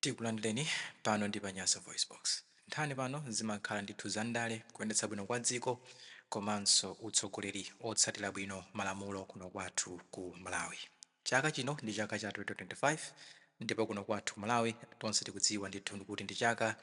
Tikulandireni pano ndi pa Nyasa VoiceBox. Nkhani pano zimakhala ndithu za ndale, kuyendetsa bwino kwa dziko komanso utsogoleri otsatira bwino malamulo kuno kwathu ku Malawi. Chaka chino ndi chaka cha 2025 ndipo kuno kwathu ku Malawi tonse tikudziwa ndithu kuti ndi chaka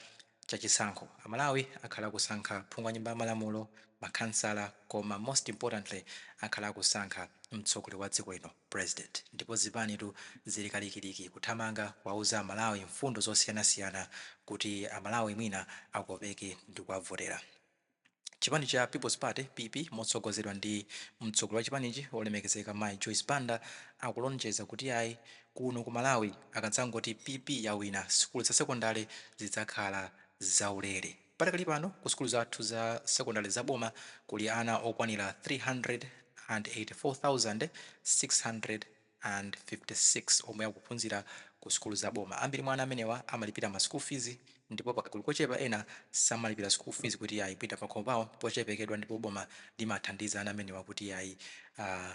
cha chisankho. A Malawi akhala akusankha phungu wa nyumba ya malamulo, makhansala koma most importantly akhala akusankha mtsogoleri wa dziko lino, president, ndipo zipanitu zili kalikiliki kuthamanga kuwauza a Malawi mfundo zosiyanasiyana kuti a Malawi mwina akopeke ndikuwavotera. Chipani cha People's Party, PP, motsogozedwa ndi mtsogoleri wa chipanichi olemekezeka Mayi Joyce Banda akulonjeza kuti ayi kuno ku Malawi akadzangoti PP yawina sukulu za sekondale zidzakhala zaulere. Padakali pano ku sukulu zathu za sekondale za boma kuli ana okwanira 384,600. and 56 omwe akuphunzira ku sukulu za boma. Ambiri mwa ana amenewa amalipira ma school fees ndipo pakagulu kochepa ena samalipira school fees kuti ayi kuita pakhomo pawo pochepekedwa ndipo boma limathandiza ana amenewa kuti ayi uh,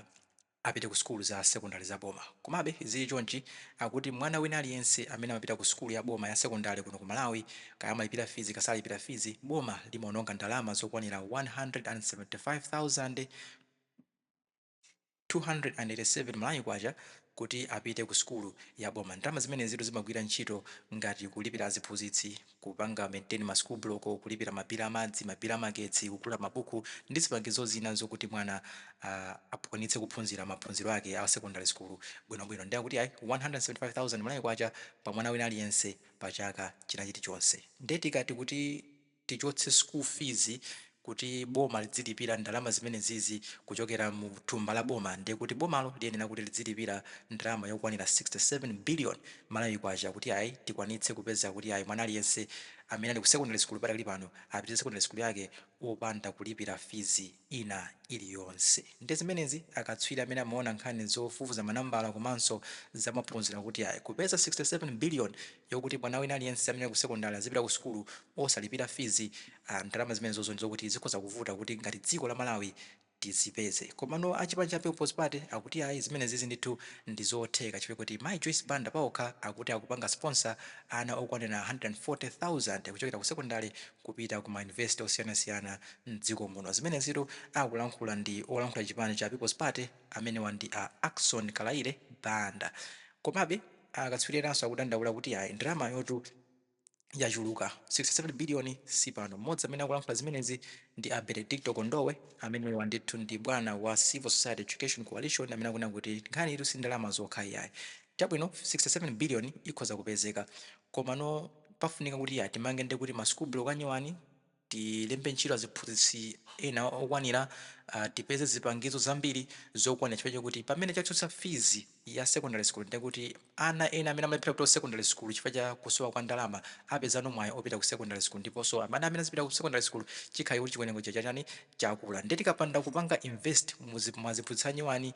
apite ku sukulu za sekondale za boma. Komabe zili chonchi, akuti mwana wina aliyense amene amapita ku sukulu ya boma ya sekondale kuno ku Malawi, kaya amalipira fees ka salipira fees, boma limaononga ndalama zokwanira 175,000. 287 Malawi kwacha kuti apite ku sukulu ya boma. Ndalama zimenezitu zimagwira ntchito ngati kulipira aziphunzitsi, kupanga maintain ma school block, kulipira ma bill a madzi, ma bill a magetsi, kugula mabuku ndi zipangizo zina zokuti mwana akwanitse kuphunzira maphunziro ake a secondary school bwino bwino. Nde akuti ayi 175,000 Malawi kwacha pa mwana wina aliyense pa chaka china chilichonse. Nde tikati kuti. tichotse school fees kuti boma lidzilipira ndalama zimenezizi kuchokera mu thumba la boma ndiye kuti bomalo liyenera kuti lidzilipira ndalama yokwanira 67 billion Malawi kwacha kuti ayi tikwanitse kupeza kuti ayi mwana aliyense amene ali ku secondary school padakali pano apitirize secondary school yake opanda kulipira fees ina iliyonse. Nde zimenezi akatswiri amene amaona nkhani zofufuza manambala komanso za maphunziro akuti ayi. Kupeza 67 billion yokuti mwana wina aliyense amene ali ku sekondale azipita ku sukulu osalipira fees ah ndalama zimenezozo ndizokuti zikhoza kuvuta kuti ngati dziko la Malawi tizipeze. Komano a chipani cha People's Party akuti ayi zimenezizi ndithu ndizotheka chifukwa choti Mayi Joyce Banda paokha akuti akupanga sponsor ana okwanira 140,000 kuchokera ku sekondale kupita ku ma University osiyanasiyana mdziko muno. Zimenezitu akulankhula ndi olankhula chipani cha People's Party amenewa ndi a Ackson Kalaile Banda. Komabe akatswiri enanso akudandaula kuti ayi ndalamayotu yachuluka, 67 billion sipano. Mmodzi amene akulankhula zimenezi ndi a Benedicto Kondowe amenewa ndithu ndi bwana wa Civil Society Education Coalition amene akunena kuti nkhaniyitu si ndalama zokha iyayi. Chabwino 67 billion ikhoza kupezeka komano pafunika kuti ya timange ndekuti ma school block anyowani, Tilembe ntchito aziphunzitsi ena okwanira, tipeze zipangizo zambiri zokwanira chifukwa chakuti pamene tachotsa fees ya secondary school ndiye kuti ana ena amene amalephera kupita ku secondary school chifukwa cha kusowa kwa ndalama apezano mwayi opita ku secondary school ndiponso ana amene azipita ku secondary school chikhale kuti chiwerengo chija chatani chakula ndiye tikapanda kupanga invest mu aziphunzitsi anyowani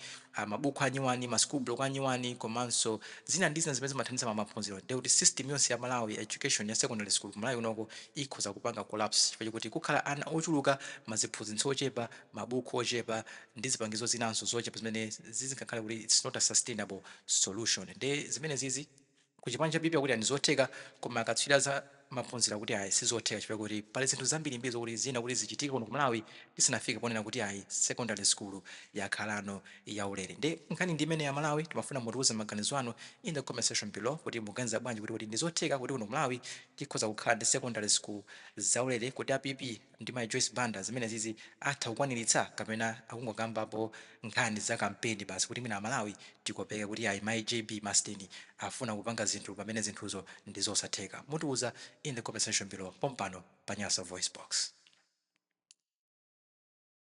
mabuku anyowani, ma school block anyowani komanso zina ndi zina zimene zimathandiza pa maphunziro ndiye kuti system yonse ya Malawi ya education ya secondary school ku Malawi kunoko ikhoza kupanga collapse chifukwa chokuti kukhala ana ochuluka ma aziphunzitsi ochepa, mabuku ochepa ndi zipangizo zinanso zochepa zimene zizikakhala kuti it's not a sustainable solution ndiye zimenezizi. Ku chipani cha PP akuti ayi ndizotheka koma akatswiri a za maphunziro akuti ayi sizotheka chifukwa choti pali zinthu zambirimbiri zokuti ziyenera kuti zichitike kuno ku Malawi tisanafike ponena kuti ayi secondary school yakhalano yaulere. Nde nkhani ndi imeneyi a Malawi timafuna mutiuze maganizo anu in the comment section below kuti mukuganiza bwanji kuti kodi ndizotheka kuti kuno ku Malawi tikhoza kukhala ndi secondary school zaulere? Kodi a PP ndi mayi Joyce Banda zimenezizi atha kukwaniritsa kapena akungokambapo nkhani za kampeni basi kuti mwina a Malawi tikopeke kuti ayi mayi JB masteni afuna kupanga zinthu pamene zinthuzo ndi zosatheka mutiuza in the comment section below pompano pa Nyasa VoiceBox.